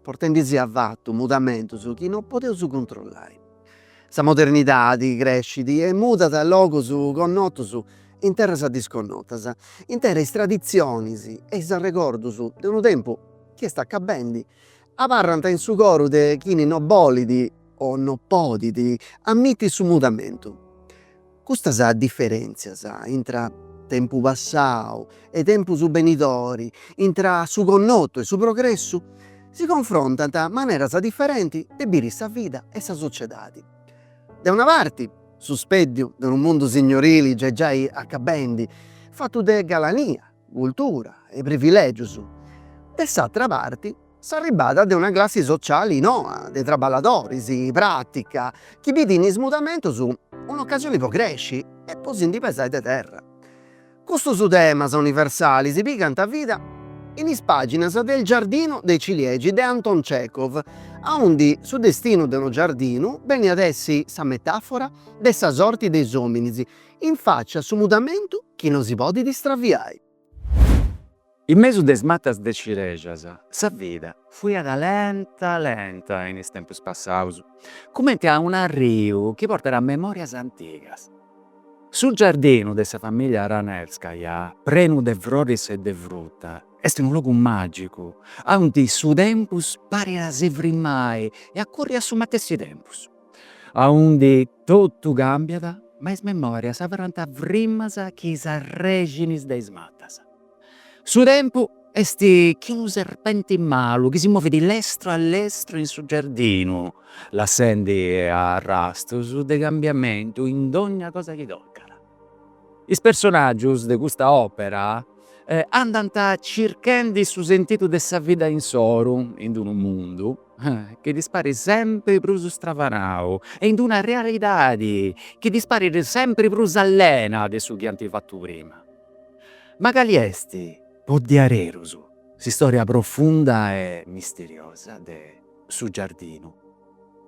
portendisi a fatu mudamentus chi no podeus controllai. Sa modernidadi crescit e mudat logus connotus in terras disconnotas, intera is traditzionis e is arregordus de unu tempus chi est acabendi abarrant in su coru de chini no bolit o no podit ammiti su mudamentu. Custas diferèntzias intra tempu passau e tempus benidori, intra su connotu e su progressu, si confrontant maneras diferenti de biri sa vida e sa sociedadi. De una parti, su speddiu de unu mundu signorili gei giai acabendi, fatu de galania, cultura e privilègius, de s'atra parti, S'arribada de una classi sociali noa de traballadoris pratica chi bidit in is mudamentus un'ocasioni po cresci e po si ndi pesai de terra. Custus temas universalis pigant vida in is paginas de Il giardino dei ciliegi de Anton Chekhov, aundi su destinu de unu giardinu benit a essi sa metafora de sa sorti de is ominis in facia a su mudamentu chi no si podit straviai. In mesu de is matas de cirejas, sa vida fuiat lenta lenta in is tempus passaus, cumenti a un'arriu chi portat memòrias antigas. Su giardinu de sa famìllia Ranevskaja, prenu de froris e de fruta, est unu logu màgicu, aundi su tempus parit a si frimmai e a curri a su matessi tempus, aundi Totu càmbiat, ma is memòrias abarrant frimas chi is arrèxinis de is matas. Su tempu est chi unu serpenti malu chi si movit lestru a lestru in su giardinu, lassendi arrastus de cambiamentu in dònnia cosa chi tocat. Is personàgius de custa òpera andant circhendi su sentidu de sa vida insoru in d'unu mundu chi ddis parit sempri prus stravanau e in d'una realidadi chi ddis parit sempri prus allena de su chi ant fatu prima. Ma cali est, po diarerus, s'istòria profunda e misteriosa de Su giardinu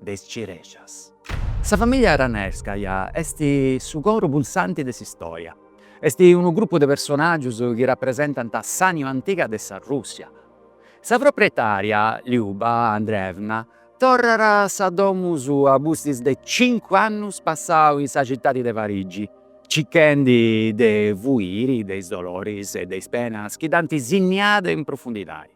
de is cirejas. Sa famìllia Ranevskaja est su coru pulsanti de s'istòria. Est unu grupu de personàgius chi rapresentant s'ànima antiga de sa Rùssia. Sa proprietària, Liuba Andreevna, torrat a sa domu sua pustis de cincu annus passau in sa citadi de Parigi, circhendi de fuiri de is doloris e de is penas chi dd'ant sinniada in profundidadi.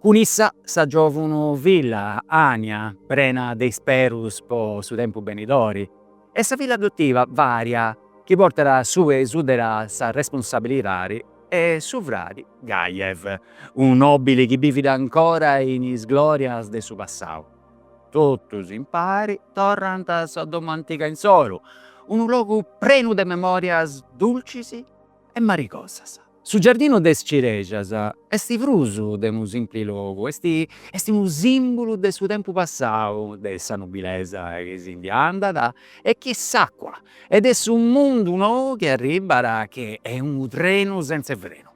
Cun issa sa giòvuna filla Ania, prena de isperus po su tempus benidori, e sa filla adotiva Varia, chi portat subra 'e su dera sa responsabilidadi, e su fradi Gajev, unu nòbili chi bivit ancora in is glòrias de su passau. Totus impari torrant a sa domu antiga insoru, unu logu prenu de memòrias dulcis, e marigosas. Su giardinu de is cirexas est prus de unu simpli logu, est unu simbulu de su tempus passau, de sa nobilesa chi si ndi andat e chi s'acua e de su mundu nou chi arribat chi est unu trenu senz''e frenu.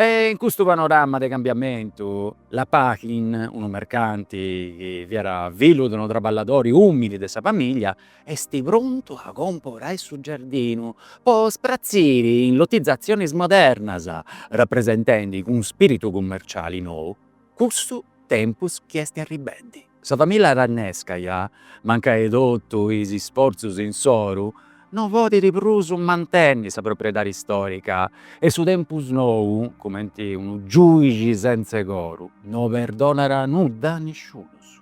E in custu panorama de cambiamentu, Lopachin, unu mercanti chi fiat fillu de unu traballadori umili de sa familia, est prontu a comporai su giardinu po ddu spratziri in lotizatzionis modernas, rapresentendi cun spiritu cummerciali nou, custu tempus chi est arribendi. Sa familla Ranevskaja, mancai totu is isfortzus insoru, no podit prus mantenni sa propriedadi istorica e su tempus nou, cumenti unu giugi sentza 'e coru, no perdonat nudda a nisciunus.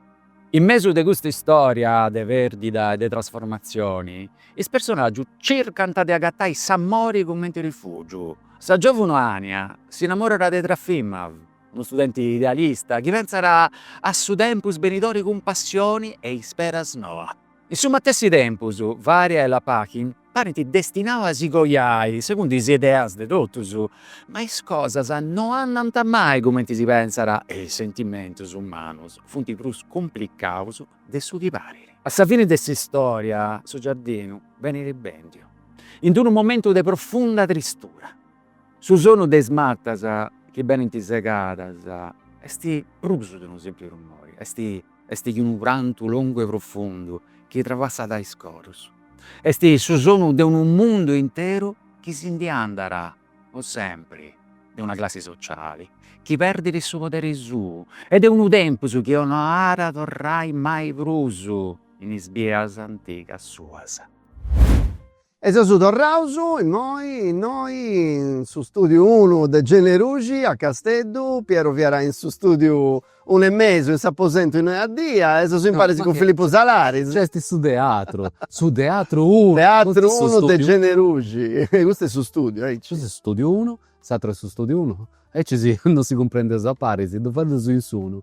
In mesu de custa istoria de perdida e de trasformatzioni, is personaggius circant de agatai s'amori cumenti rifugiu. Sa giovuna Ania s'inamorat de Trofimov, Unu studenti idealista, chi pentzat a su tempus benidori cun passioni e isperas noa. In su matessi tempus, Varia e Lopachin parint destinaus a si coiai segundu is ideas de totus, ma is cosas no andant mai cumenti si pentzat e is sentimentus umanus funt prus cumplicaus de su chi parit. A sa fini de s'istória, su giardinu benit bèndiu, in d-unu momentu de profunda tristura, Su sonu de is matas chi benint segadas est prus de unu simpli rumori, est che unu prantu longu e profundu chi trapassat is corus, est su sonu de unu mundu interu chi si ndi andat po sempri, de una classi sociali chi perdit su poderi suu e de unu tempus chi no at a torrai mai prus in is bias antigas suas. E seus torraus immoi innoi in su stùdiu unu de Generuxi a Casteddu, Piero fiat in su stùdiu unu e mesu, in s'aposentu innoi a dia e seus imparis cun Filippu Salaris. Nc'est su teatru, su teatru unu. Teatru unu de Generuxi, custu est su stùdiu, aici. Custu est su stùdiu unu, s'àteru est su stùdiu unu, aici si non si cumprendeus a paris, ddu fadeus in s'unu.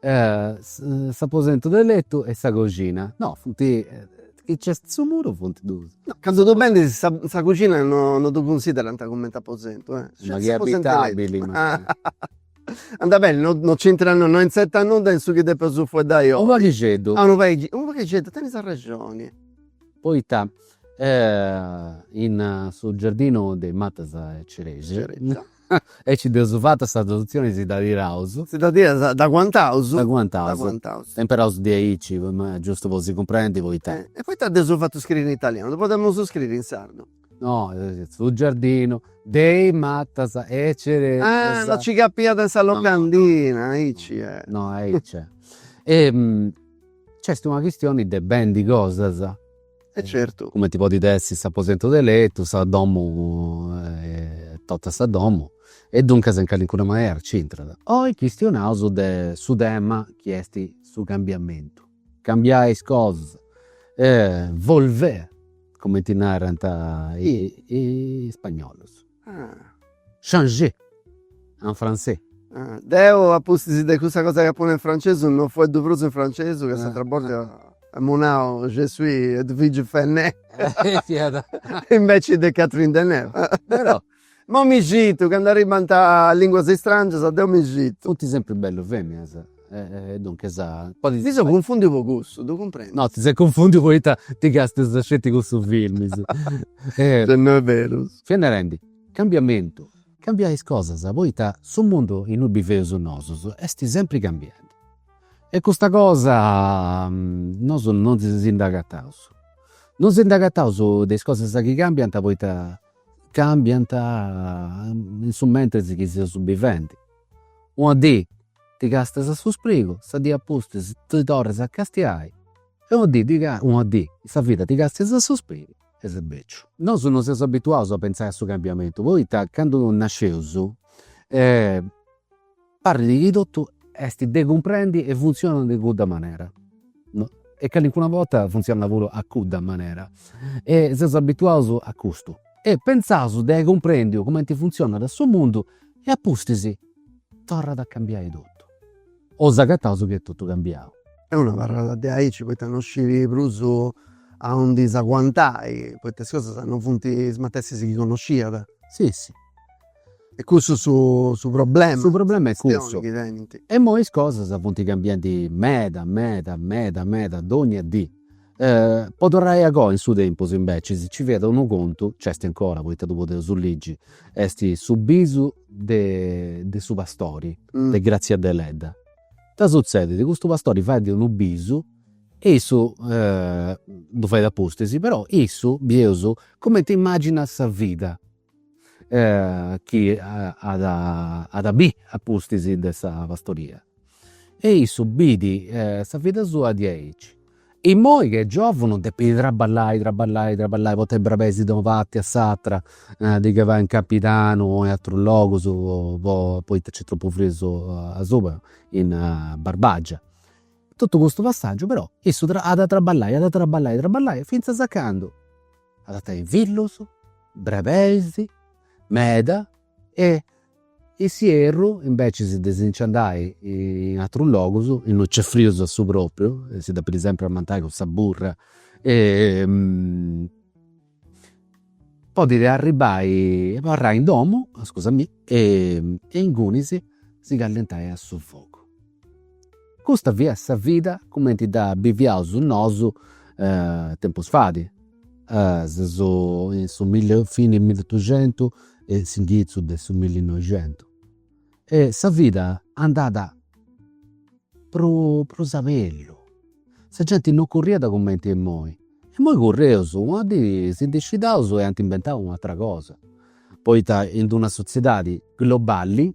S'aposentu de letu e sa coxina. No funt, chi nc'est su muru funt duus. No, candu ddu bendis sa sa coxina no no ddu cunsiderant cumenti aposentu, eh. Ma chi est abitabili. Andat beni, no no nc'intrat nudda, no incentrat nudda in su chi depeus fueddai oi. Unu paghixeddu. Ah unu paghixeddu, unu paghixeddu, tenis arrexoni. Poita in su giardinu de is matas 'e cerèsia. Aici dd'eus fata sa tradutzioni si dda tiraus. Si dda tiraus, dda aguantaus. Dda aguantaus. Dda aguantaus. S'imperaus diaici, giustu po si cumprendi poita. E poita dd'eus fatu scriri in italianu, ddu podemus scriri in sardu. No, su giardinu de is matas 'e cerèsia. Ah, no ci capiat in sa locandina, aici est. No, aici est. E nc'est una chistioni de bendi cosas. E certu. Cumenti podit essi s'aposentu de letu, sa domu, totu sa domu e duncas in calincuna manera nc'intrat. Oi chistionaus de su tema chi esti su cambiamentu, cambiai is cosas, volver cumenti narant is spagnolus. Changer en français. Deu a pustis de custa cosa chi apo nau in francesu no fueddu prus in francesu ca s'atera borta amu nau je suis Edwige Fenech inveci de Catherine Deneuve. Ma mi scitu, candu arribant linguas istrangias deu mi scitu. Funt sempri bellus feminas. E duncas podit. Mi seu cunfùndiu po cussu, ddu cumprendu. No, ti ses cunfùndiu poita ti càstias sceti cussus filmis. No est beru. Fiat narendi, cambiamentu. Cambiai is cosas, poita su mundu in ui biveus nosus est sempri cambiendi. E custa cosa nosu non si nd'acataus. Non si nd'acataus de is cosas chi cambiant poita cambiant in su mentris chi seus bivendi. Una dì Ti càstias a su sprigu, sa dì apustis ti torras a castiai e una dì una dì in sa vida ti càstias a su sprigu e ses beciu. Nosu no seus abituaus a pentzai a su cambiamentu poita candu nasceus parrit chi totu est de cumprendi e funtzionat in cudda manera e calincuna borta funtzionat puru a cudda manera e seus abituaus a custu e pentzaus de ai cumprèndiu cumenti funtzionat su mundu e apustis Torrat a cambiai totu. O s'acataus chi est totu cambiau. E unu abarrat de aici poita no scit prus a undi s'aguantai, poita is cosas no funt is matessis chi connosciat. Si si. Est cussu su problema. Su problema est cussu. E imoi is cosas funt cambiandi meda meda meda meda dogna dì. Po torrai a goa in su tempus invecias nci fiat unu contu, nc'est 'ncora poita ddu podeus ligi, est su bisu de su pastori de Grazia Deledda. Ita sutzedit, custu pastori fait unu bisu e issu ddu fait apustis, però issu, bieus, cumenti imaginat sa vida chi at at a biri a pustis de sa pastoria e issu biri sa vida sua diaici. Immoi chi est giovunu depit traballai traballai traballai portai brebeis de una parti a s'atra a ndi calai in Campidanu o in atrus logus po poita nc'est tropu frius asuba in Barbagia. Totu custu passaggiu però issu at a traballai at a traballai fintzas a candu At a tenni fillus, brebeis meda e in s'ierru invecias de si nci andai in atrus logus, innui nc'est frius a su propriu e si depit sempri amantai cun sa burra podit arribbai e abarrai in domu, scusai-mì, e ingunis si callentai a su fogu Custa fiat sa vida cumenti dda biviaus nosu tempus fait, in su milli fini 'e milliotuxentu e s'inghitzu de su millinoixentu. E sa vida andàt prus prus abellu, sa genti non curriat cumenti imoi, imoi curreus, una dì si ndi scidaus e ant inventau u' atera cosa, poita in d'una sotziedadi globali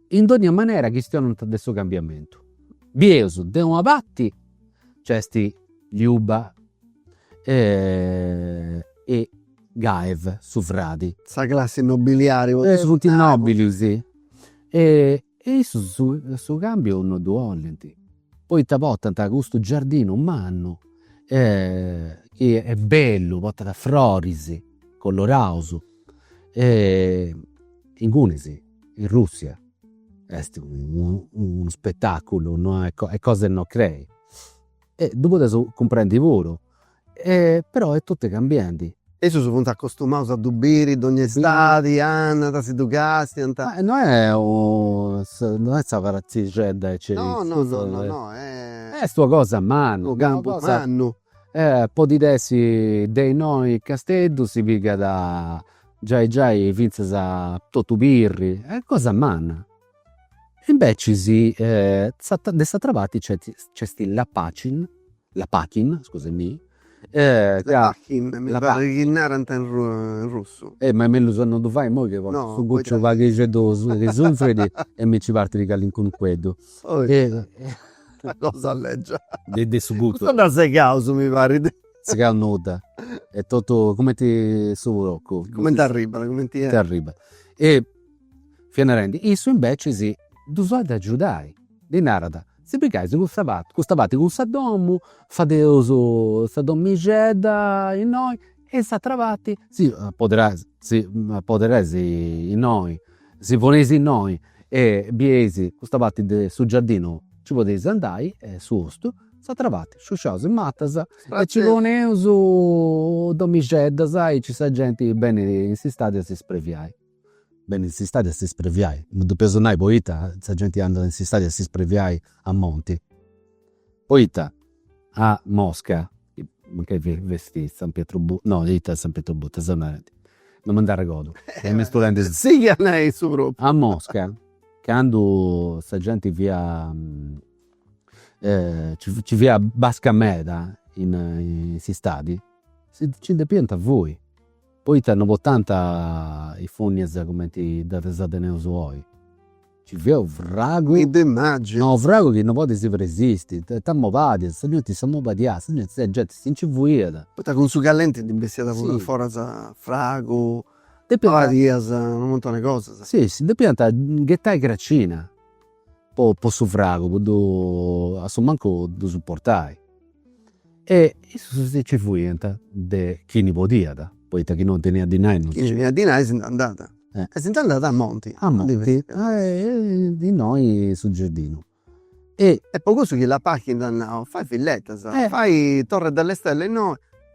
In dònnia manera chistionant de su cambiamentu. Bieus, de una parti nc'est Liuba e Gaev, su fradi. Sa classi nobiliari. Is funt is nòbilis e issus su càmbiu no ddu 'olint, poita portant custu giardinu mannu chi est bellu, portat froris coloraus e ingunis in Russia est unu spetaculu no est est cosa 'e no crei e ddu podeus cumprendi puru e però est totu cambiandi. Issus funt acostumaus a ddu biri dogna istadi, anant, si ddu castiant. Ma no est u no est sa pratzixedda ecce no no no est una cosa manna, u campu mannu E podit essi de innoi Casteddu si pigat giai giai fintzas totu Pirri est cosa manna. Imbecis de s'atera parti nc'est Lapacin, Lapachin scusai-mì, Lapachin mi parrit chi narant in russu. E ma est mellus a non ddu fai imoi chi portu su cucciu paghixeddu chi sunfrit e mi nci partit calincunu cueddu. Una cosa leggia. De de su guttu. Custa nd'at segau su mi parit. Segau nudda. Est totu cumenti su procu. Cumenti arribat, cumenti. Cumenti arribat. E fia narendi, issu imbecis ddus at de agiudai, ddi narat, si pigais custa parti, custa parti cun sa domu, fadeus sa domixedda innoi E in s'atra parti. Si apoderais innoi, si poneis innoi e bieis custa parti de su giardinu nci podeis andai est su bostu, s'atra parti sciusciaus is matas e nci poneus domixeddas aici sa genti benit in s'istadi a si spreviai Benit s'istadi a s'ispreviai, non depeus ddu nai poita sa genti andat in s'istadi a s'ispreviai a monti, poita a Mosca, mancai fessit San Pietroburgo, no ita San Pietroburgo, seu narendi, non mi nd'arregodu, sighi a nai su propriu, a Mosca candu sa genti fiat nci fiat basca meda in s'istadi nci depiant fui Poita no portànt is fònnias cumenti ddas teneus oi. Nci fiat unu fragu. Mi ddu imaginu. No, unu fragu chi no podis resisti. T'ammobadias, sa genti s'ammobadiat, sa genti, sa genti si nci fuiat. Poita cun su callenti ndi bessiat puru aforas fragu, mobadias, unu muntoni de cosas. Si, si, depiant ghetai cracina. po po su fragu po ddu assumancu ddu supportai e issus si nci fuiant de chini podiat poita chi non teniat dinai no. Chini teniat dinai si nd'andàt. E si nd'andàt a monti. A monti innoi su giardinu e. Est po cussu chi Lopachin at nau, fai villetas, fai Torre delle Stelle innoi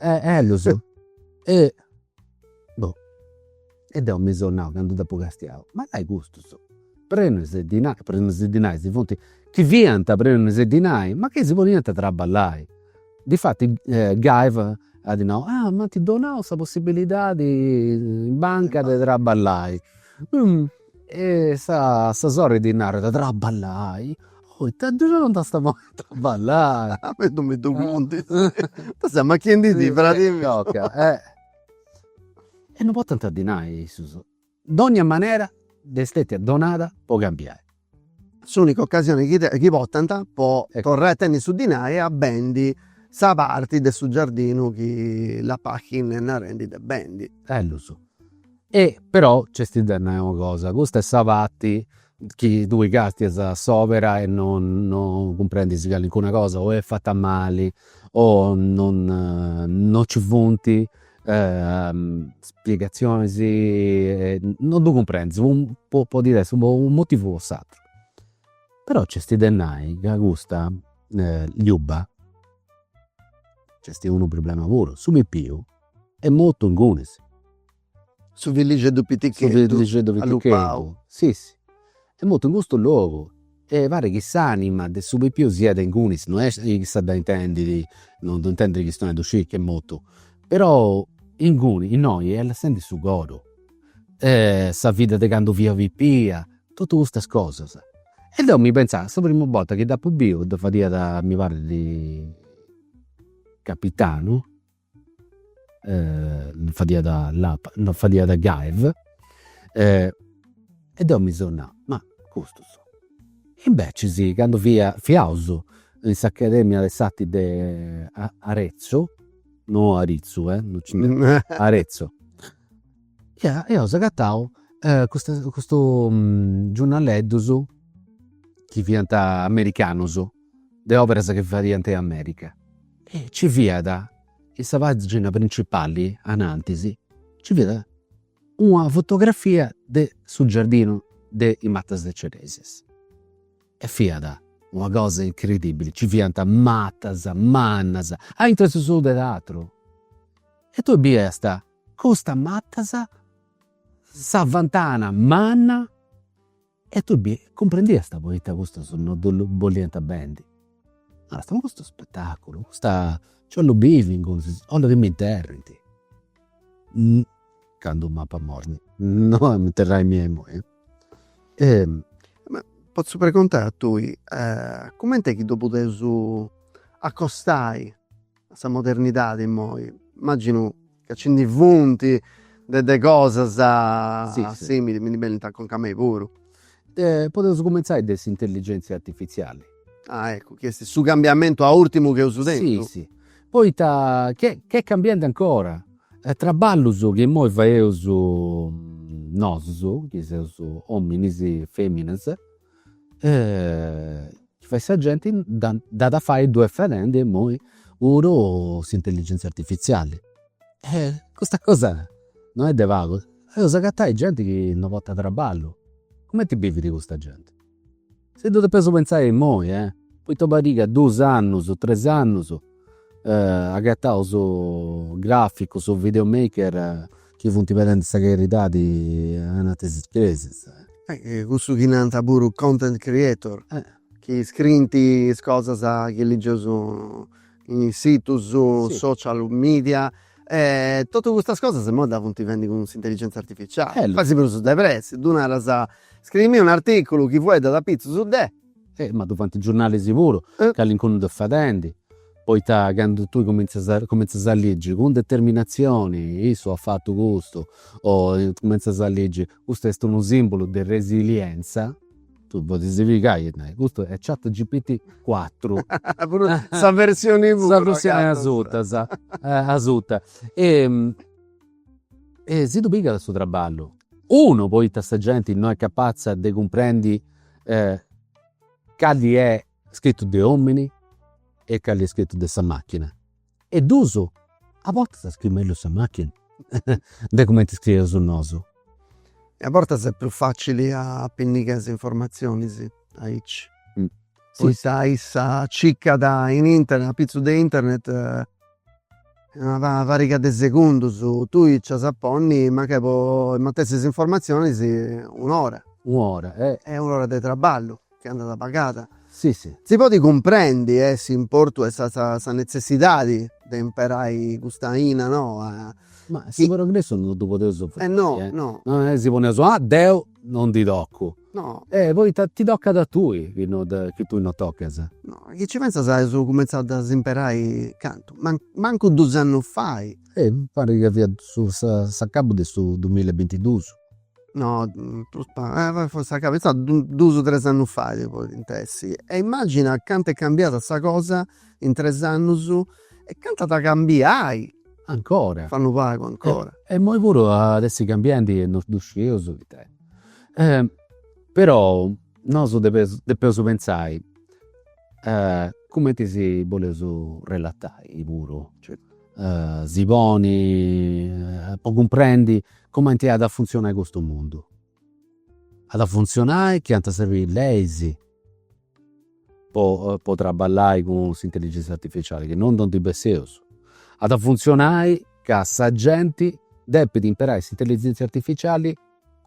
E ellus e boh. E deu mi seu nau candu dd'apu castiau, ma dai custus prenus e dinai, prenus e dinai si funt, chi fiant prenus e dinai ma chi si poniant a traballai. Difatis Gaev at nau, ah m'ant donau sa possibilidadi in banca de traballai E sa sa sorri ddi narat, traballai? Oh ita ddu dd'ant a ponni a traballai. A mei non mi ddu contis. Ita ses amachiendi·dì, fradi miu. E non portant dinai issus. Dònnia manera dd'est stètia donada po cambiai. S'ùnica ocasioni chi chi portant po torrai a tenni su dinai a bendi sa parti de su giardinu chi Lopachin est narendi de bendi. Ellus. E però nc'est de nai una cosa, custa est sa parti chi tui castias a s'opera e non non cumprendis calincuna cosa o est fata mali o non non ci funt spiegazionis, non ddu cumprendis po podit essi po unu motivu o po s'ateru. Però nc'est de nai ca custa Liuba nc'est unu problema puru, su pipiu est mortu ingunis. Su fillixeddu pitticheddu allupau. Si si. Est mortu in custu logu e parit chi s'anima de su pipiu siat ingunis, no est chi issa dda intendidi, no ddu intendidi chistionai ddu scit chi est mortu, però inguni, innoi est lassendi su coru e sa vida de candu fia pipia, totu custas cosas. E deu mi pentzau, sa primu borta chi dd'apu biu dda fadiat mi parit Capitanu fadiat Lopa, no fadiat Gaev e deu mi seu nau, ma custus. Invecias candu fia, fiaus in s'Academia de s'Arti de Arezzu, no Aritzu, no nci ndi, Arezzu, ia, eus agatau custus giurnaleddus chi fiant americanus de oberas chi fadiant in America e nci fiat in sa pagina principali anantis nci fiat una fotografia de su giardinu de is matas de ceresias e fiat una cosa incredibili, nci fiant matas mannas aintru 'e su solu de su teatru e tui biiast custas matas, sa ventana manna E tui bi cumprendiasta poita custus no ddu bollianta bendi. Naras, Ma custu spetaculu, custa, nci ollu bivi ingunis, ollu chi m'interrint. Candu m'apa morri, no a m'interrai mia imoi. Ma potzu preguntai a tui, cumenti est chi ddu podeus acostai? a sa modernidadi immoi immaginu ca ci ndi funti de de cosas simili, mi ndi benint a conca a mei puru. Podeus cumentzai de s'intelligenzia artifiziali. Ah eccu, chi esti su cambiamentu urtimu chi eusu tentu. Si, si, poita ch'est cambiendi ancora, traballus chi immoi faeusu nosu, chi seusu ominis, feminas chi fait sa genti dd'at a fai ddu est fadendi imoi puru s'intelligentzia artifiziali. Custa cosa non est de pagu, eus a agatai genti chi no portat traballu, cumenti bivit custa genti. Si ddu depeus pentzai imoi, poita pariga dus annus, tres annus Agatau su graficu, su video maker chi funt pedendi sa caridadi ananti de is cresias. Cussu chi nanta puru content creator, chi scriint is cosas chi ligeus in is situs social media e totus custas cosas imoi ddas funt fendi cun s'intelligenza artificiali, fais prus de pressi, ddu naras, scriimi un'articulu chi fueddat apitzus de Eh! Ma ddu fant is giurnalis puru, calincunu dd'est fadendi, poita candu tui cumintzias a cumintzias a ligi cun determinatzioni, issu at fatu custu, o cumintzias a ligi, custu est unu simbulu de resilientza, tui podis pigai e nai, custu est chat GPT cuatru. Puru sa versioni puru. Sa versioni asuta, asuta. E E si ddu pigat su traballu. Unu, poita sa genti no est capatza de cumprendi cali est scritu de omini e cali est scritu de sa machina. E dus, a bortas scriit mellus sa machina de cumenti scrieus nosu. E a bortas est prus facili a apinnigai is informatzionis aici. Poita issa circat in internet, apitzus de internet In una pariga de segundus tui nc'as a ponni mancai po is matessis informatzionis un'ora. Un'ora e. E un'ora de traballu chi andat pagada. Si si. Si podit cumprendi e s'importu e sa netzessidadi de imperai custa aina noa. Ma su progressu non ddu podeus firmai. E no no. Si poneus, ah deu no ndi tocu. No. E poita ti tocat a tui chi no chi tui no tocas? No, chi ci pentzas aus cumenzau a ddas imperai cantu, mancu dus annus fai. E parit ca fiat su s'acabu de su dumilla e bintidus. No, prus pagu, fortzis s'acabu, finzas dus tres annus fai podint essi. E immagina cantu est cambiada sa cosa in tres annus e cantu at a cambiai. ancora. Fa unu pagu ancora. E immoi puru at essi cambiendi e non ddu scieus ita est. Perou nosu depeus depeus pentzai cumenti si boleus relatai puru. Si poni po cumprendi cumenti at a funtzionai custu mundu. At a funtzionai chi ant a srebi leis Po traballai cun s'intelligenza artificiali chi no no ndi besseus at a funtzionai ca sa genti depit imperai s'intelligenza artificiali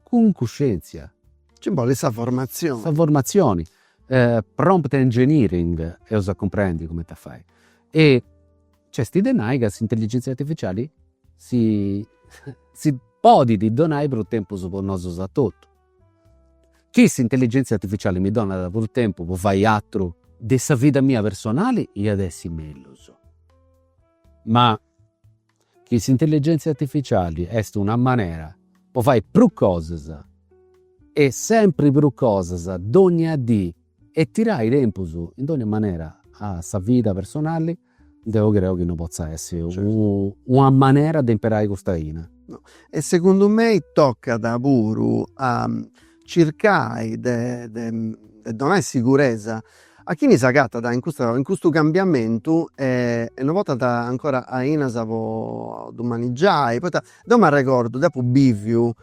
cun cuscenzia. Nci bolit sa formatzioni. Sa formatzioni, prompt engineering eus a cumprendi cumenti fai e nc'est de nai ca s'intelligenza artificiali si si podit donai prus tempus po nosu etotu Chi s'intelligèntzia artificiali mi donat prus tempus po fai atru de sa vida mia personali iat essi mellus. Ma chi s'intelligèntzia artificiali est una manera po fai prus cosas e sempri prus cosas dònnia dì e tirai tempus in dònnia manera a sa vida personali Deu creu chi no potza essi una manera de imperai custa aina. No, e segundu mei toccat puru a circai de de de donai siguresa a chini s'agattat in custa in custu cambiamentu e e no pottat ancora ainas po ddu manigiai, poita deu m'arregordu deu apu biviu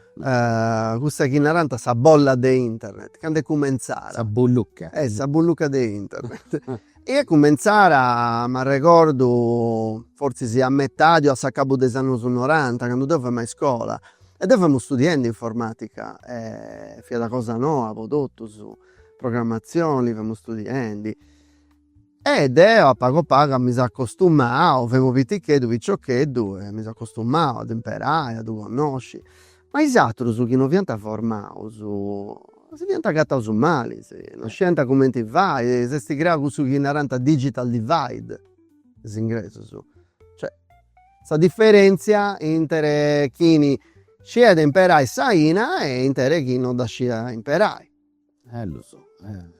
cussa chi narant sa bolla de internet, candu est cumentzada. Sa bullucca. Sa bullucca de internet Est cumentzada m'arregordu fortzis a metadi o a s'acabu de is annus noranta, candu deu femu a iscola. E deu femu studiendi informatica e fiat cosa noa po totus, programmazioni femu studiendi. E deu a pagu a pagu mi seu acostumau, femu piticheddu, piciocheddu e mi seu acostumau a dd'imperai, a ddu connosci Ma is atrus chi no fiant formaus si fiant agataus mali, no sciant cumenti fai, s'est creau cussu chi narant digital divide, is ingresus, cioè sa diferentzia inter chini sciat imperai s'aina e inter chini no dda sciat imperai Ellus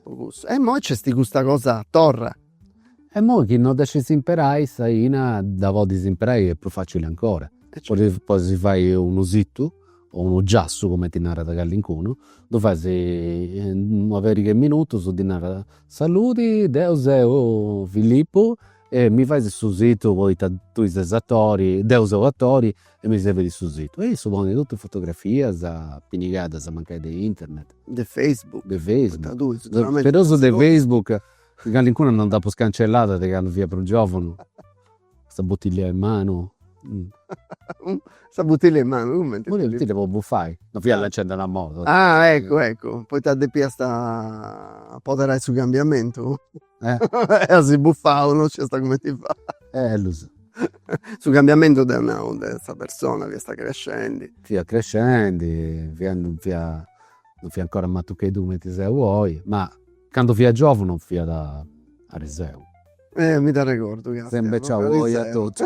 po cussu. E immoi c'esti custa cosa torra. E immoi chi no dda scis imperai s'aina dda podis imperai est prus facili ancora. Podis fai unu situ o unu giassu cumenti narat callincunu, ddu fais in una periga 'e minutus ddi naras, saludi deu seu Filippu e mi fais su situ poita tui ses atori, deu seu atori E mi serbit su situ. E issu ponit totu is fotografias pinigadas mancai de internet. De Facebook. De Facebook. Però su de Facebook chi callincuna non dd'apu scancellada de candu fia prus giovunu. Sa butillia in manu. Sa butillia in manu, cumenti? Una butillia po bufai. Non fia lanciendu una molotov. Ah eccu eccu, poita depiasta apoderai su cambiamentu. Eh asi buffau no sciasta cumenti fai. Ellus. Su cambiamentu deu nau de sa persona chi est crescendi. Fia crescendi, fia non fia non fia ancora matucheddu cumenti seu oi, ma candu fia giovunu fiat ariseu. Eh mi dd'arregordu ca. Sempri nc'est oi etotu.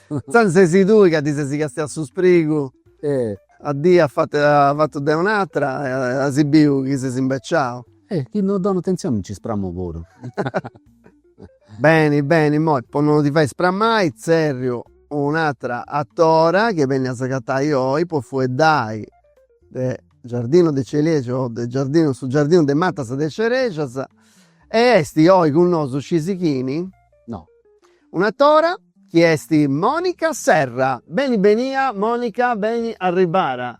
Intzandus sesi tui ca ti sesi castiau su sprigu. Eh. Una dì afatu de un'atra e as biu chi sesi imbeciau. E chi no donu atentzioni nci spramu puru. Beni beni immoi po no ti fai spramai tzerriu un'atra atora chi benit a s'agatai oi po fueddai de giardino dei ciliegi o de giardinu su giardinu de matas de cerexas e esti oi cun nosu scisi chini? No. Un'atora chi esti Monica Serra. Beni benia Monica beni arribada.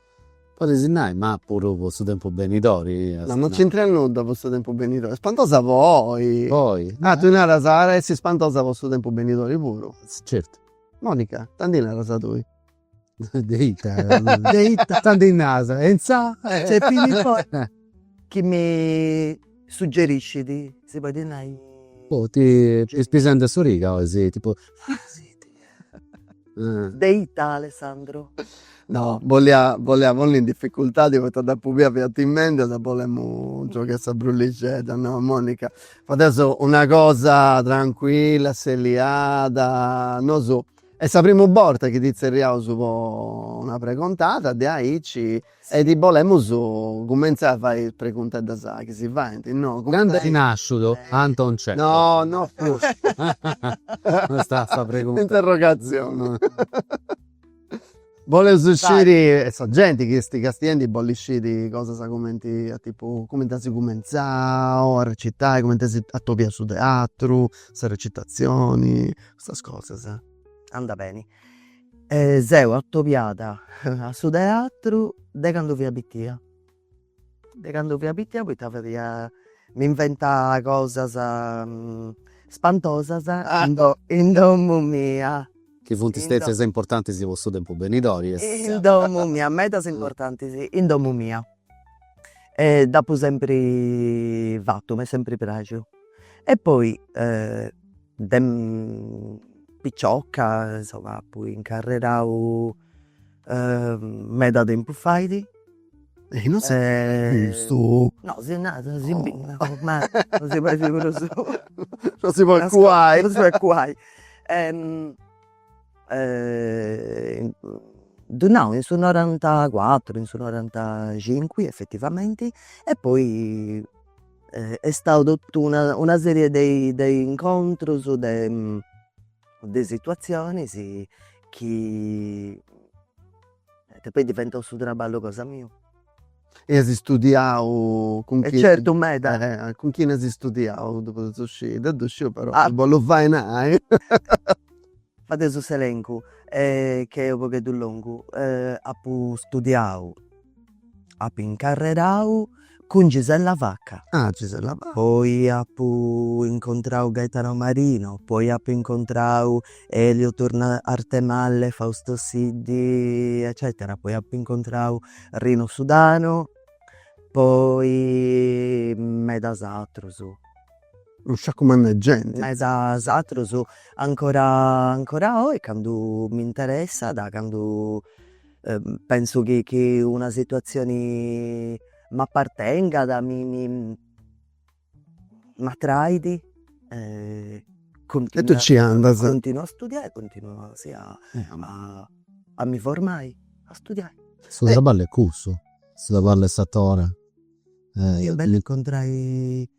Podis nai, ma puru po su tempus benidori. No, no c'intrat nudda po su tempus benidori, spantosa po oi. Po oi. Ah, tui naras at essi spantosa po su tempus benidori puru. Certu. Monica, tanti naras tui. De ita? De ita? Tanti nasa, e intzà? Chi mi suggeriscit, si podit nai. Oh, t'est pispisendi a s'origa oi, si, tipu. Ah, si, De ita Alessandro? No bolia bolia ponni in difficultadi poita dd'apu bia fiat timendi ddi bolemus giogai sa brullixedda no Monica fadeus una cosa trancuilla asseliada nosu est sa primu borta chi ti tzerriaus po una pregontada de aici E ti bolemus cumentzai a fai is pregunteddas chi si faint, no? Candu est nàsciudu Anton Cechov? No, no fut. No est sa pregunta. Interrogazione. Boleus sciri, e sa genti chi est castiendi bollit sciri cosas cumenti, tipu, cumenti as cumentzau a recitai, cumenti as atobiau su teatru, sa recitazioni, custas cosas. Andat beni. E seu atobiada a su teatru de candu fia pitia, de candu fia pitia poita fadia, m'inventà cosas spantosas in domu mia. Chi funt stètias importantis po su tempus benidori. In domu mia, medas importantis in domu mia. E dd'apu sempri fatu, m'est sempri praxiu. E poi De picioca insomma appu incarrerau meda tempus faidi. E non si vistu? No si narada si bit ma ormai non si faidi prus. Non si podit cuai. Non si podit cuai. Ddu nau in su norantacuatru in su norantacincu effettivamenti e poi Est stau totu una una serie de de incontrus de de situazionis chi est poi diventau su traballu cosa miu. E as istudiau cun chini? E certu meda. Cun chini as istudiau ddu podus sciri, deu ddu sciu però, ddu bollu fai nai Fadesu s'elencu chi est unu pagheddu longu apu studiau, apu incarrerau cun Gisella Vacca, poi apu incontrau Gaetano Marino, poi apu incontrau Elio Turno Arthemalle, Fausto Siddi eccetera, poi apu incontrau Rino Sudano, poi medas atrus no scarescia mancai genti. Medas atrus, ancora ancora oi candu mi interessat, candu pensu chi chi una situatzioni m'apartengat mi mi m'atraidi e tui ci andas. Continuu a studiai, continuu sì a a mi formai, a studiai. Su traballu est cussu, su traballu 'e s'atore. Est bellu incontrai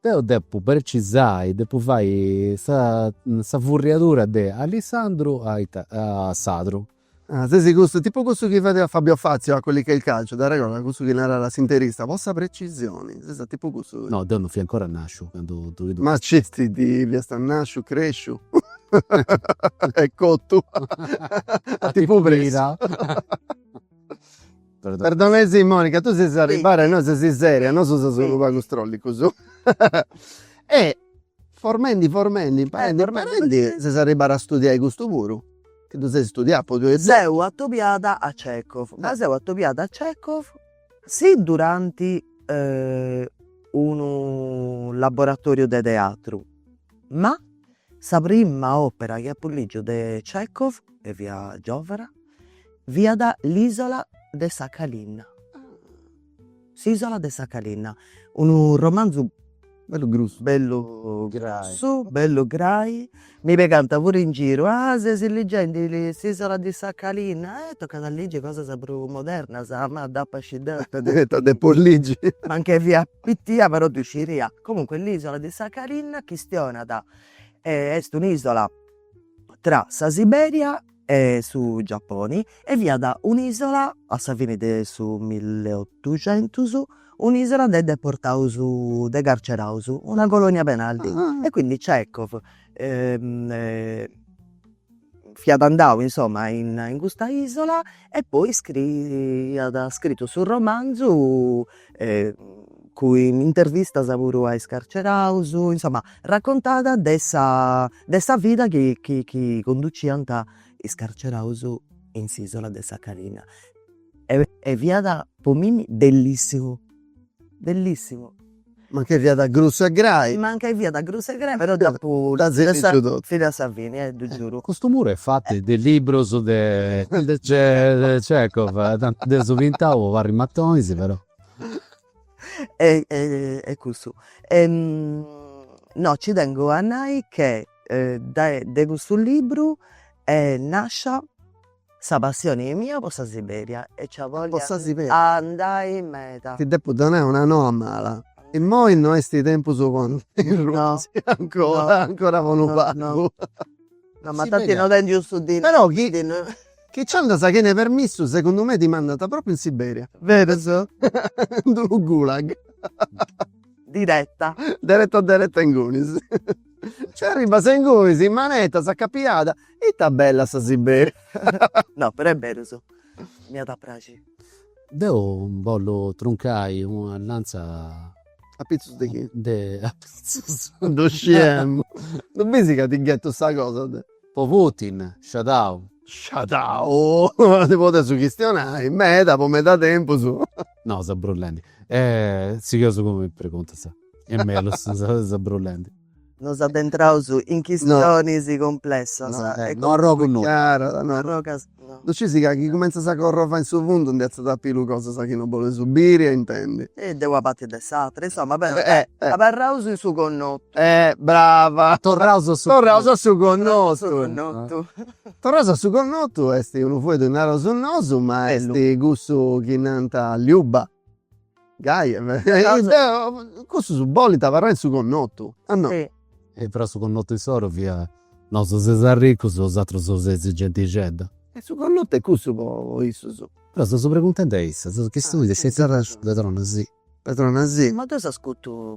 Deu depu percisai, depu fai sa sa furriadura de Alissandru a a Sandru. Ah, sesi custu, tipu cussu chi fadia Fabio Fazio a Quelli che il calcio da regola, cussu chi narat s'interista, po sa precisioni, ses tipu cussu chi. No, deu non fia ancora nasciu candu ddu biddu. Ma sceti ti fiast nasciu, cresciu e cotu e tipu pressu. Perdonesi Monica, tu ses arribada innoi e ses seria, nosu seus unu pagu strollicus e formendi formendi imparendi imparendi ses arribada a studiai custu puru, chi ddu ses studiau po tui. Seu atobiada a Txekov, ma seu atobiada a Txekov si duranti unu laboratoriu de teatru, ma Sa prima òpera chi apu lìgiu de Txèkhov, e fia giòvuna, fiat L'isola di Sakhalin, S'Isola de Sakhalin, unu romanzu bellu grussu, bellu grussu, bellu grai, mi pigànt puru in giru, ah ses ligendi S'Isola di Sakhalin, eh tocat a ligi cosas prus modernas, ma dd'apu a scì deu ita depu ligi, mancai fia Pittia però ddu sciia. Comunque l'Isola di Sakhalin chistionat est un'isola tra sa Siberia e su Giapponi e fiat un'isola a sa fini de su milleottucentus un'isola de deportaus de carceraus una colonia penali e quindi Chekhov fiat andau insomma in in custa isola e poi iat scrittu su romanzu cun intervistas puru a is carceraus, insomma raccontada de sa de sa vida chi chi chi conduciant is carceraus in s'isola de Sakhalin e e fiat po mimmi bellissimu Bellissimu. Mancai fiat grussu e grai. Mancai fiat grussu e grai però dd'apu fina a sa fini ti ddu giuru. Custu muru est fatu de liburus de Chekhov, tanti dd'eus pintau po parri matonis però. E cussu. No ci tengu a nai che de custu liburu est nascia Sa passione mia po sa Siberia e c'ia a bolli andai meda. Ti depu donai una noa mala. Immoi no est tempus po andai in Russia ancora, ancora po unu pagu. No, ma tanti no tengiu su dinari. Però chi chi ci andas a chene permissu segundu me ti mandant propriu in Siberia. Berus? In d'unu gulag. Diretta. Deretta deretta ingunis. Nci arribas ingunis in manetas acapiada, ita bella sa Siberia. No però est berus. M'iat a praxiri. Deu bollu truncai una lanza. A pitzus de chie? De a pitzus. Ddu sciemu. Ddu bisi ca ti ghettu sa cosa de. Po Putin, sciadau. Sciadau. Ndi podeus chistionai meda po meda tempus. No, seu brullendi. E sigheus cun is preguntas. E mellus sa brullendi. Nos addentraus in chistionis cumplessas. No arrogu nudda. Ddu scisi ca chi cumentzas a corrovai in su fundu ndi atziat a pillu cosas chi no bolis biri e intendi. E de una parti e de s'atra. Insoma, abarraus in su connotu. Brava. Torraus a su connotu. Torraus a su connotu. Torraus a su connotu est unu fueddu, naraus nosu, ma est cussu chi nant Liuba. Gaev cussus bolint abarrai in su connotu o no. E però su connotu insoru fiat, nosu seus arricus bosatrus seis gentixedda. E su connotu est cussu po issus. Però seus preguntendi a issa, seus chi su is. Perdonasì. Perdonasì. Ma deu s'ascutu.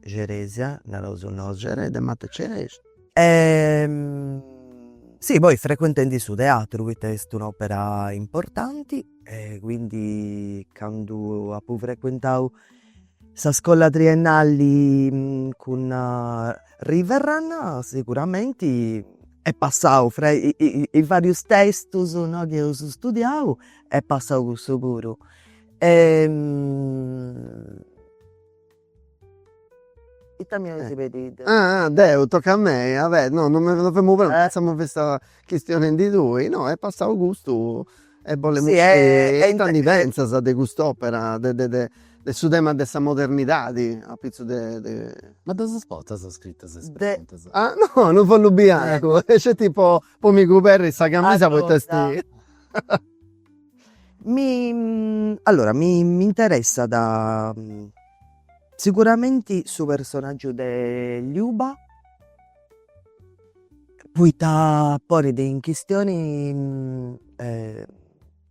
Ceresia naraus nosu. Cereda e mata Ceresia. Sì poi frequentendi su teatru poita est un'opera importanti e quindi candu apu frequentau sa scola triennali cun Riverrun siguramenti est passau fra is varius testus no chi eus studiau est passau cussu puru Ita mi aisi pedidu? Ah ah deu, tocat a mei, ah beh no no no femu prontu, pensamu chi fiast chistionendi tui, no est passau custu e bolemu sciri ita ndi pentzas de cust'opera de de de de su tema de sa modernidadi apitzus de de. Ma ddas portas scritas is preguntas? Ah no, unu follu biancu, sceti po po mi cuberri sa camisa poita est Mi allora mi mi interessat siguramenti su personaggiu de Liuba poita ponit in chistioni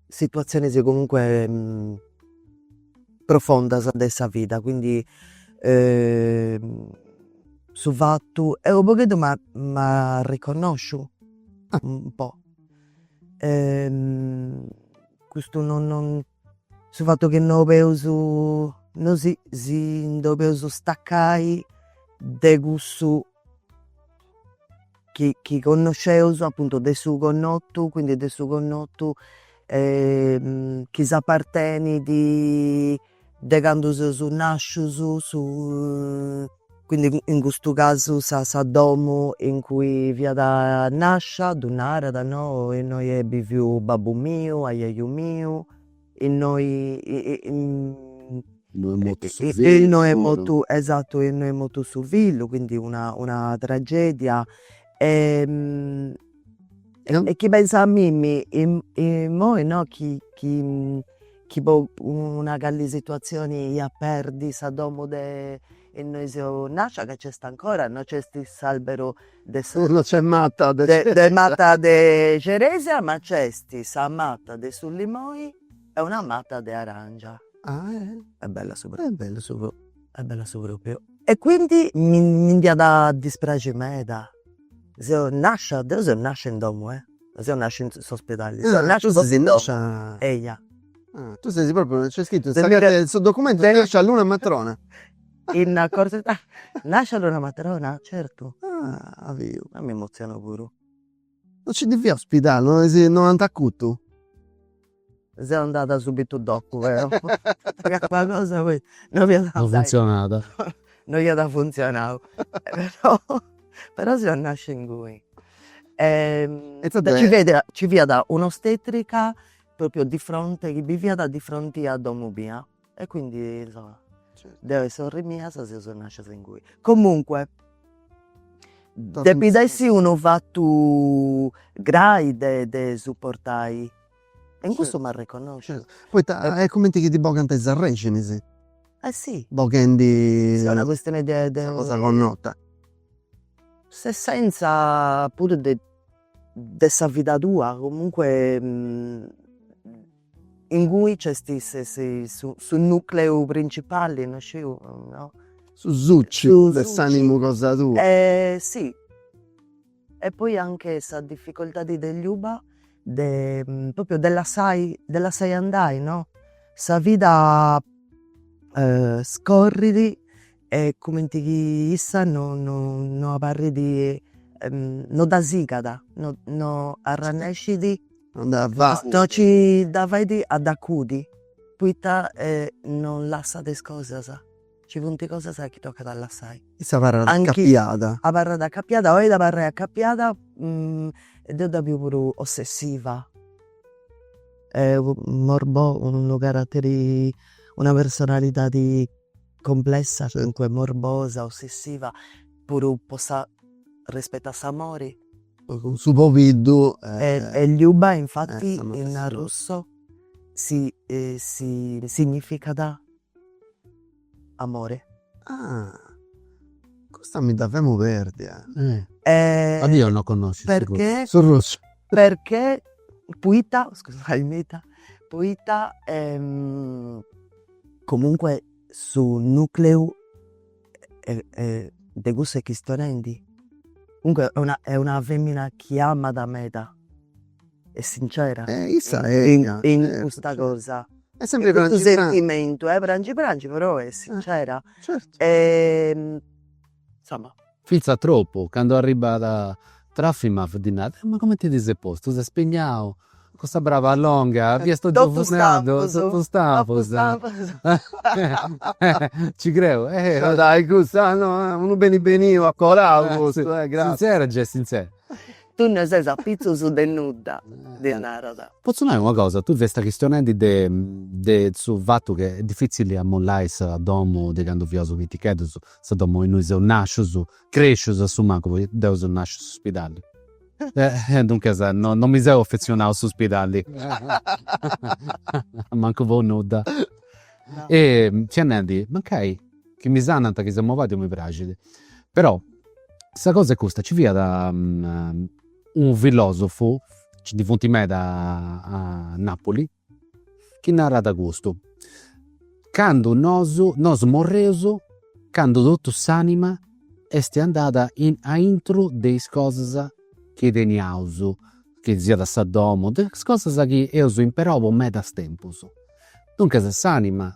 situatzionis comunque profondas de sa vida, quindi su fattu, deo u' pagheddu m'arriconnosciu un po' custu no no su fattu chi no poeus no si si ndi poeus staccai de cussu chi chi connosceus appuntu de su connottu quindi de su connottu chi s'appartenidi De candu seus nàscius, su quindi in custu casu sa sa domu in cui fiat nàscia ddu narat no, innoi est biviu babbu miu, ajaju miu, innoi innoi est mortu su fillu, innoi est mortu, esatu, innoi est mortu su fillu, quindi una una tragedia e chi penzu a mimmi immoi no chi chi chi po una cali situatzioni ia perdi sa domo de innoi seu nascia ca nc'est ancora no nc'est s'albero de sa mata de mata de ceresia ma nc'est sa mata de su limoi e una mata de arangiu est bella su propriu est bella su propriu e quindi mi nd'iat dispraxi meda Seu nascia, deu seu nascia in domu eh. Non seu nascia in s'ospidali, deu seu nascia in domu. Nascia. Eia. Ah, tu sesi propriu, nc'est scritu in sa carta de su documentu, nascia a Lunamatrona. In accorzu di. Nascia a Lunamatrona, certu. Ah, as biu. Ah, m'emoziono puru. Non nci ndi fiat ospidali, no ant acutu? Seu andada subitu dopu però po calincuna cosa poi no fiat andada. No funtzionada. No iat funtzionau però seu nascia inguni e ci fiat un'ostetrica propriu di fronte chi biviat di fronte a domu mia e quindi insomma deo e sorri mia seus nascias inguni. Comunque depit essi unu fatu grai de de supportai E in custu m'arriconnosciu. Poita est cumenti chi ti bogant is arrèxinis. Eh si. Boghendi. Una custioni de. Sa cosa connota. S'essenza puru de de sa vida tua, comunque ingui nc'est su su nucleu principali, no sciu, no. Su suciu de s'anima cosa tua. Eh si E poi anche sa difficoltadi de Liuba de proprio de lassai de lassai andai no sa vida scorridi e cumenti chi issa no no no abarridi no dda sigada no no arrannescidi no ci dda faidi a dd'acudi poita non lassat is cosas Ci funt cosas chi tocat a lassai. Issa abarrat acappiada. Abarrat acappiada, bolit abarrai acappiada deu dda biu puru ossessiva. Morbo, unu carateri, una personalidadi complessa, comunque morbosa, ossessiva, puru po sa, rispettu a s'amori. Cun su pobiddu. E Liuba infatti in arrusso si significat Amore. Ah custa mi dda femu perdia. Ma deu no connosciu su russu. Perchè. Su russu. Perchè poita, scusai meda, poita comunque su nucleu e de cussa chistionendi, comunque est una est una femina chi amat meda, est sincera in custa cosa, est sempri prangi prangi, cun sentimentu e prangi prangi però est sincera e insomma. Finzas tropu, candu arribbat Trofimov ddi narat, ma comenti ti ses postu, ses spignau, Custa braba longa fiat totu funadu, totu stampus. Ci creu. Dai custa unu beni beniu a colau custu. Sintzera gei sintzera. Tui no ses a pitzus de nudda, ddi narat. Potzu nai una cosa, tui fiast chistionendi de de su fatu ca est difitzili a mollai sa domu de candu fiaus piticheddus, sa domu innui seus nascius, crescius a su mancu, poita deu seu nasciu in s'uspidali. Duncas no no mi seu affezionau a s'uspidali mancu po nudda e fia nendi mancai chi mi sanant chi seu mobàdiu mi praxit però sa cosa est custa ci fiat unu filosofu, nci ndi funt meda a Napuli Chi narat custu. Candu nosu, nosu morreus, candu totu s'anima esti andada aintru de is cosas chi teniaus, chi siat sa domu, de is cosas chi eus imperau po medas tempus. Duncas s'anima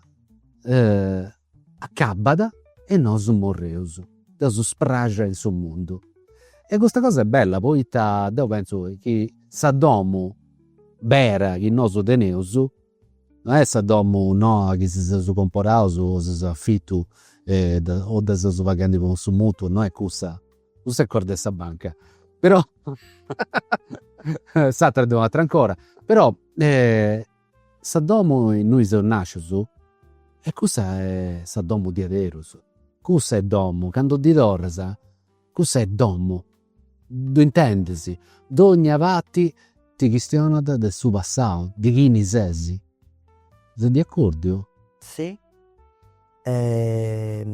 Acabat e nosu morreus de su spraxia in su mundu. E custa cosa est bella poita deu pentzu chi sa domu bera chi nosu teneus non est sa domu noa chi si seus comporaus o si seus afitu o dda seus paghendi cun su mutuo, non est cussa, cussa est cosa de sa banca. Però s'atera est un'atera ancora. Però Sa domu innui seus nàscius e cussa est sa domu diaderus. Cussa est domu, candu ddi torras, cussa est domu. Ddu intendis? Dogna parti ti chistionat de su passau, de chini ses. Ses de acòrdiu? Si. E.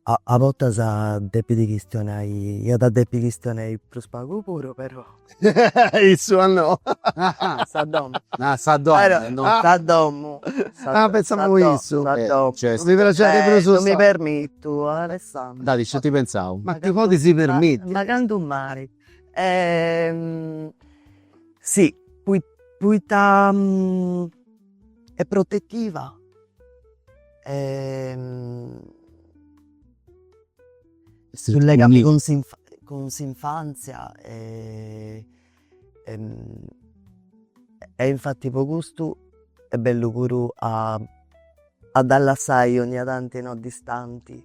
A bortas depit chistionai, iat a depi chistionai prus pagu puru però. Issu a no. Sa domu. Ah sa domu. Sa domu. Ah pentzamu issu. Sa domu. Mi praxit de prus. Non mi permitu Alessandra. Dai sciu ti pentzau. Ma ti podis permitti. Ma candu mai. Si, poita est protetiva e su legami cun cun s'infantzia e e infatti po custu est bellu puru a a dda lassai ogni tanti no distanti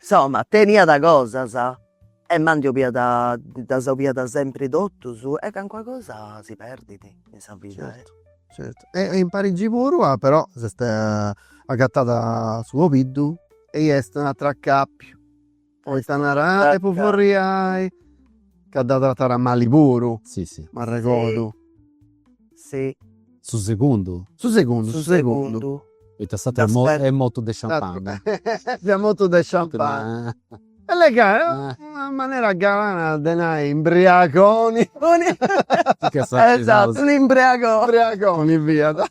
Insoma teniat cosas e ma ndi 'oliat ddas 'oliat sempri totus e calincuna cosa si perdit in sa vida e. Certu certu e in Parigi puru ah però s'est agatada su pobiddu e i est un'ateru acapiu Poita narai po furriai ca dda tratàt mali puru. Si si. M'arregodu. Si. Su segundu? Su segundu, su segundu. Poita s'ateru est mortu de sciampana. Fiat mortu de sciampana. E le ca una manera galana de nai imbriagoni. Imbriagoni fiat.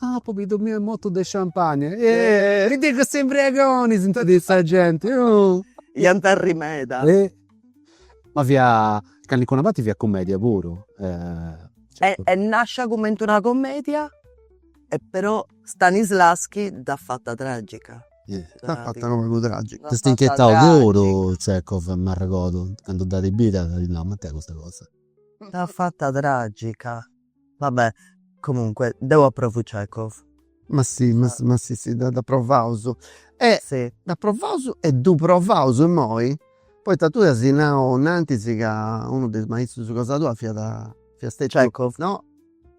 Ah pobiddu miu est mortu de sciampagna e e de cussu imbriagoni s'intendit sa genti oh. Iant a arri meda. E ma fiat calincuna parti fiat cumedia puru eh. E est nàscia cumenti una comedia e però Stanislavskij dd'at fata tragica. Dd'at fata unu pagu tragica. S'est inchietau puru Tchekov m'arregodu candu dd'at bida at nau, ma ita est custa cosa. Dd'at fata tragica Va bè, comunque, deu approvu Chekhov. Ma si, ma si, ma si, si, dd'aprovaus. E dd'aprovaus e ddu provaus immoi, poita tui as nau innantis ca unu de is maistrus cosa tua fiat, fiat stetiu. Chekhov. No,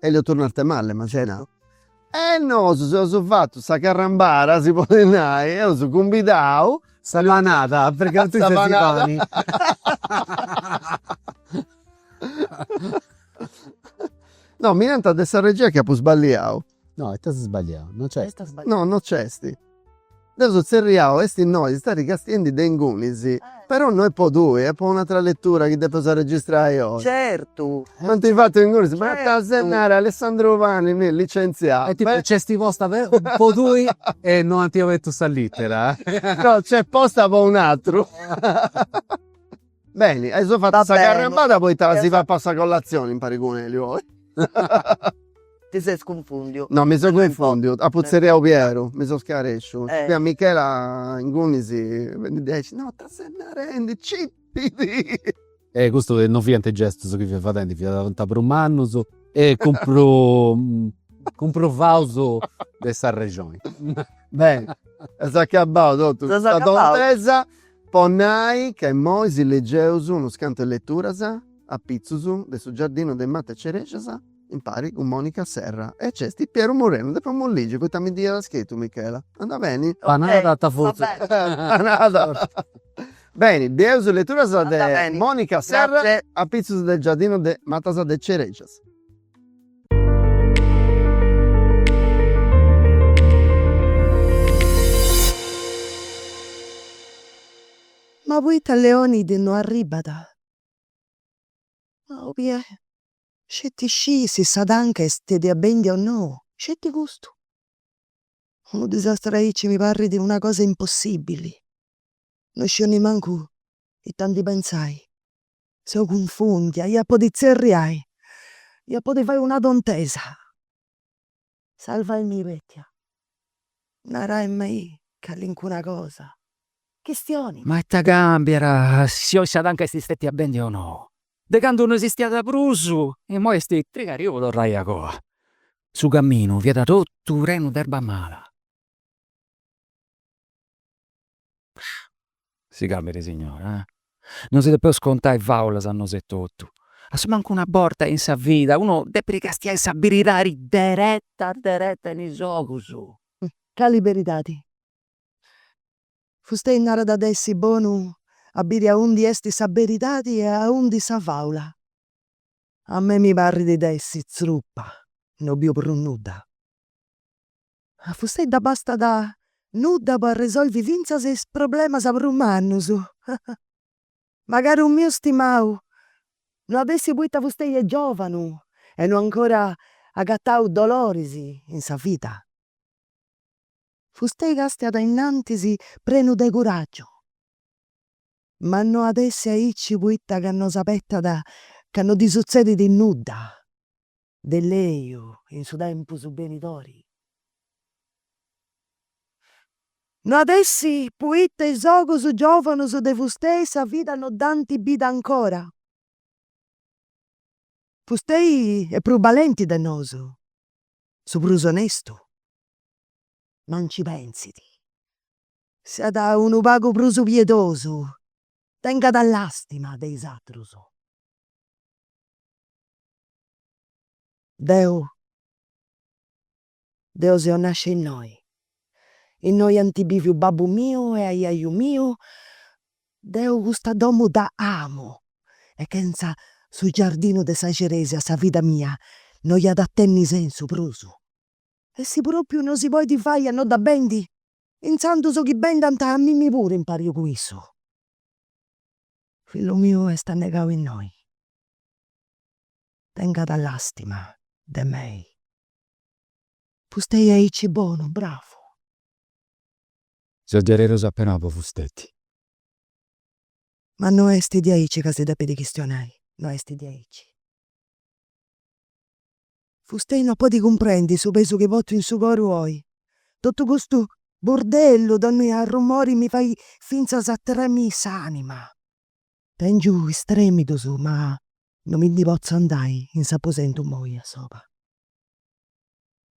Elio Turno Arthemalle m'as nau. E nosu eus fatu sa carrambada, si podit nai, eus cumbidau. Sa panada, a fregantzia de pani. No, mi nant de sa regia chi apu sballiau. No, ti ses sballiau? No nc'est. No, no nc'est. Dd'eus tzerriau est innoi istat castiendi de ingunis però no est po tui est po un'atra letura chi depeus arregistrai oi. Certu. Non ti fatto ingunis ma ta ses nare Alessandro Pani mi licentziau. E tipo nc'est posta po tui e no at obertu sa littera. No nc'est posta po un'atru. Beni, eus fatu sa carrambada poita si papaus sa collazioni impari cun Elio oi. Ti ses cunfundiu. No mi seu cunfundiu, apu tzerriau Pieru, mi seu scaresciu. Fiat Michela ingunis fendi aici, no ita ses narendi, cipidi. E custu non fiant is gestus chi fia fadendi, fia totu a prus mannus e cun prus cumprovaus de sa rexoni. Beni, s'est acabau totu sa tontesa. Po nai ca immoi si legeus unus cantus leturas apitzus de Su giardinu de mata 'e cerexas impari cun Monica Serra e nc'esti Pieru Murenu, ddu depu ligi poita mi dd'iat scritu Michela. Andat beni? Panada at futu. Panada. Beni, bieus leturas de Monica Serra apitzus de giardinu de matas de cerexas. Ma poita Leonid no arribat? Ma 'olia sceti scii si sa tanca est stètia bèndia o no, sceti custu. Unu disastru aici mi parrit una cosa impossibili, no sciu nemmancu ita ndi pentzai. seu cunfùndia, ia podi tzerriai, ia podi fai una tontesa, salvaimì Pètia, naraimei calincuna cosa, chistioni. Ma ita càmbiat si oi sa tanca est stètia bèndia o no, de candu no esistiat prus, imoi est trigadiu po torrai a coa, su caminu fiat totu prenu d'erba mala. si calmit signora eh. Non si depeus contai faulas a nosu etotu, asumancus una borta in sa vida unu depit castiai sa beridadi dereta dereta in is ogus. Cali beridadi? Fustei narat de essi bonu a biri aundi esti sa beridadi e aundi sa faula. A mei mi parrit de essi tzurupa, no biu prus nudda. A fustei dd'abastat nudda po arresolvi fintzas is problemas prus mannus. Ma caru miu stimau no at essi poita fustei est giovanu e no ancora agatau doloris in sa vida. Fustei castiat innantis prenu de curaggiu, ma no at essi aici poita ca no s'abetat ca no ddi sutzedit nudda. de lègiu in su tempus benidori. No at essi poita is ogus giòvanus de fustei sa vida no dd'ant bida ancora. Fustei est prus balenti de nosu, su prus onestu, ma nci pensit. Siat unu pagu prus piedosu, tengat làstima de is atrus. Deu deu seu nascia innoi, innoi anti biviu babbu miu e aiaiu miu, deu custa domu dda amu e chenza su giardinu de sa Ceresia sa vida mia no iat a tenni sensu prus. E si propriu no si podit fai a no dda bendi, intzandus chi bendant a mimi puru impari cun issu. Fillu miu est annegau innoi, Tengat lastima de mei. Fustei aici bonu, bravu. Seu diaderus apenau po fusteti. Ma no est diaici ca si depit chistionai, no est diaici. Fustei no podit cumprendi su pesu chi portu in su coru oi. Totu custu burdellu, donnia arrumori mi fait fintzas a tremiri s'anima. Tèngiu is trèmidus ma no mi ndi potzu andai in s'aposentu moi a soba.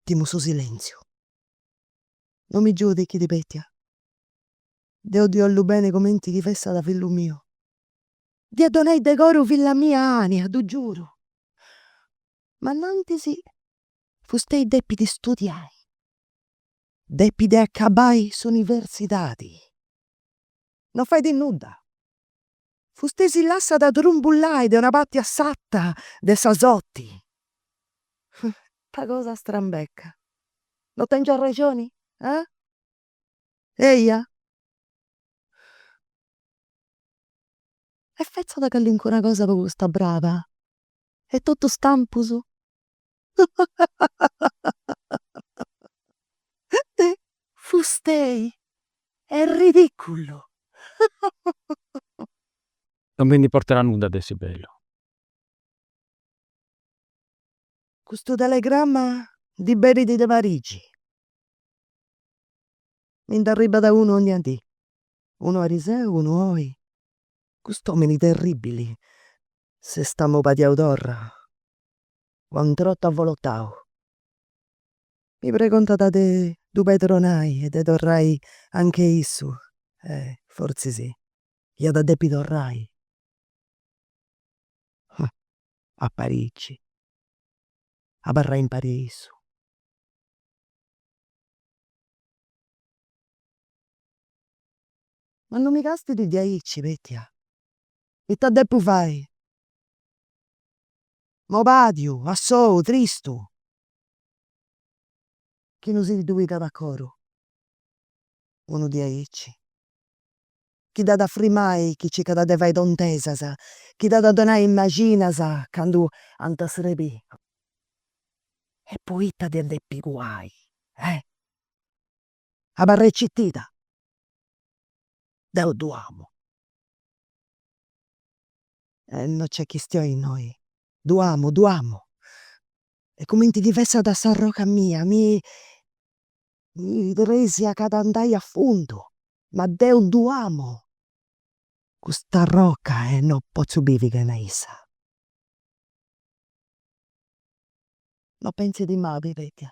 Timu su silèntziu. No mi giudichit Petia. Deu ddi 'ollu beni comenti chi fessat fillu miu. Dd'ia donai de coru filla mia Ania, ddu giuru. Ma innantis fustei depit studiai. Depit acabai s'universidadi. No fait nudda, Fustei si lassat trumbullai de una parti a s'ata de sa soti. Ta cosa strambeca. No tèngiu arrexoni? Ah? Eia? E fetzat calincuna cosa po custa braba? Est totu stampus. Fustei est ridiculu. Non mi nd'importat nudda de essi bellu. Custu telegramma ndi benit de Parigi. Mi nd'arribat unu ogna dì, unu ariseu, unu oi. Cust'omini terribili s'est amobadiau torra. o a un trotu avolotau. Mi pregontat de ddu pedronai e de torrai a nche issu e fortzis iat a depi torrai a Parigi, abarrai impari a issu. Ma non mi castit diaici, Petia, ita depu fai? mobàdiu, assou, tristu. Chi no si ddu pigat a coru unu diaici. Chi dd'at a frimai chi circat de fai tontesas, chi dd'at a donai is mexinas candu ant a srebì. E poita dd'iat a depi cuai? Eh! abarrai citida, deu ddu amu. E no nc'est chistioni innoi, ddu amu, ddu amu. Est cumenti chi fessat s'arroca mia, mi praxia ca andai a fundu. Ma deu ddu amu cust'arroca e no potzu bivi chena issa. No pentzit mai, Petia.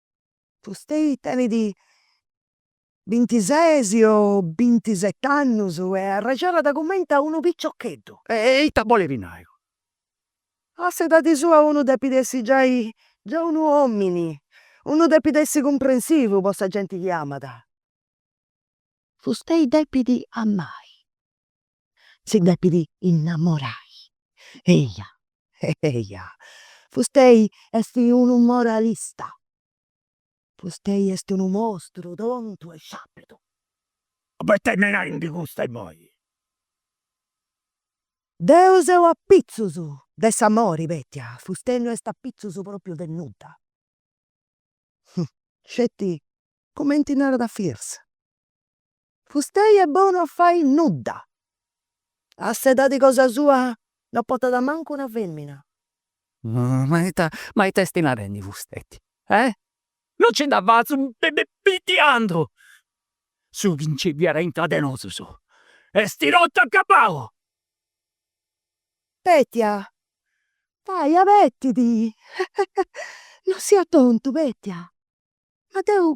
Fustei tenit bintises o bintiset'annus e arrexonat cumenti a unu piciocheddu. E ita bolit nai? A s'edadi sua unu depit essi giai giai unu omini, unu depit essi cumprensivu po sa genti chi amat. Fustei depit amai. si depit innamorai. Eia, eia, fustei est unu moralista, fustei est unu mostru tontu e sciapidu. Poita m'est narendi custu immoi? Deu seu apitzus de s'amori, Petia, fustei no est apitzus propriu de nudda. Sceti cumenti narat Firs. Fustei est bonu a fai nudda. A s'edadi cosa sua no portat mancu una femina. Ma ita ma ita esti narendi Fusteti? Eh? No nci dda fatzu prus, Petia, deu! Su chi nci fiat intra de nosus esti totu acabau! Petia, dai, abetidi, no siat tontu Petia, ma deu